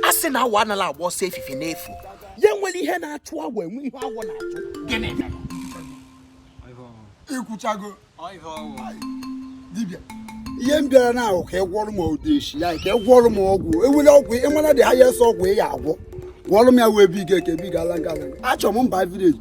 a sị na awọ anala agba ọsọ efifie n'efu ya nwere ihe na-achụ awọ enwe ihe awọ na-achụ gịnị ikwuchago dibịa ihe m bịara na ahụ ka ị gwọrọ m odeshi ya ka ị gwọrọ m ọgwụ awele ọgwụ ị mara dị highest ọgwụ ị ya agwọ gwọrọ m ya wee bi ga eke bi ga ala nga achọrọ m mba vileji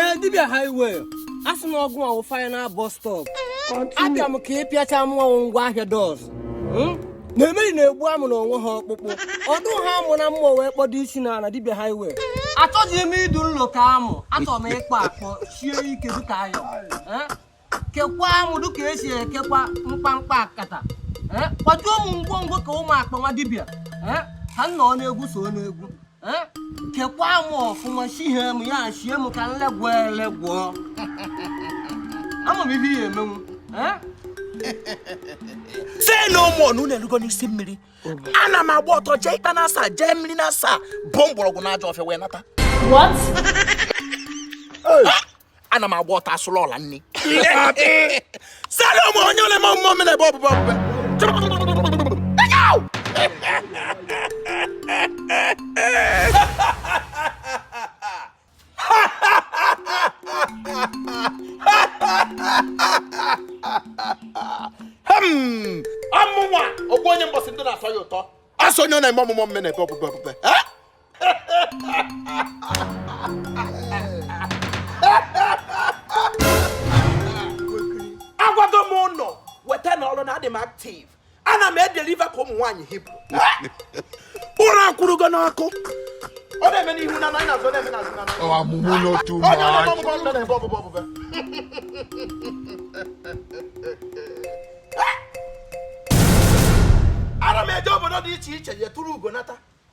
ee dibịa highway a sị na ọ gụwa wụ final bus stop abịa m ka ị pịacha mụwa wụ ngwa ahịa dos hmm? na emeri na-egbu amụ na o nweha ọkpụkpụ ọ dụha amụ na mma wee kpodo isi na ala dibịa highway achọghị m ịdụ nlo ka amụ achọrọ m ịkpọ akpọ sie ike dịka iron kekwaa mụ dịka e si ekekwa mkpamkpa akata eh, kpọjuo mụ ngwongwo ka ụmụ akpa nwa dibịa eh, ka m nọ n'egwu so n'egwu eh, kekwaa mụ ọfụma shie m ya shie m ka nlegwọ elegwọ ama m ihe ya emenwu say no more na unu erugo n'isi mmiri ana m agba ọtọ jee ikpa na asaa jee mmiri na asaa bu mgbọrọgwụ na ajọ ọfịa wee nata ana m agba ọtọ asụrụ ọla nni say no more onye ọ na-eme omume mme na-ebe obube obube Hmm, amụnwa ogbu onye mbọsị ndụ na-atọ ya ụtọ a sị onye ọ na-eme omume mme na-ebe obube obube Eh? agwago m unu weta na ọrụ na adị m active ana m edeliva ka ụmụ nwaanyị Hibru ụra akwụrụgo n'ọkụ ọ na-eme n'ihu na anyị na-azụ na-eme n'azụ na Ọ amụmụ n'otu onye onye ọ na-eme omume mme na-ebe obube obube ana m eje obodo dị iche iche jee turu ugo nata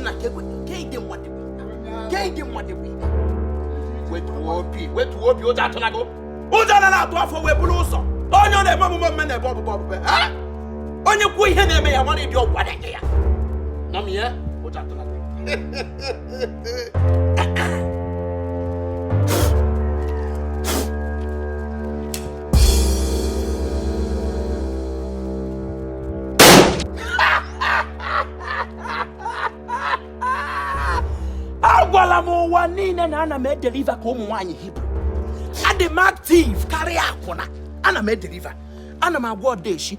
nna ka ịdị mmadụ ka ịdị mmadụ wetuo obi wetuo obi ụjọ atụla gị ụjọ anala atụ afọ wee buru ụzọ onye ọ na-eme omume mme na-ebe obube obube onye kwuo ihe na-eme ya mara ụdị ọgwụ a ga-enye ya nọ m ihe ụjọ atụla gị agwala m ụwa niile na ana m edeliva ka ụmụ nwaanyị hibru adị m active karịa akwụna ana m edeliva ana m agwọ odeshi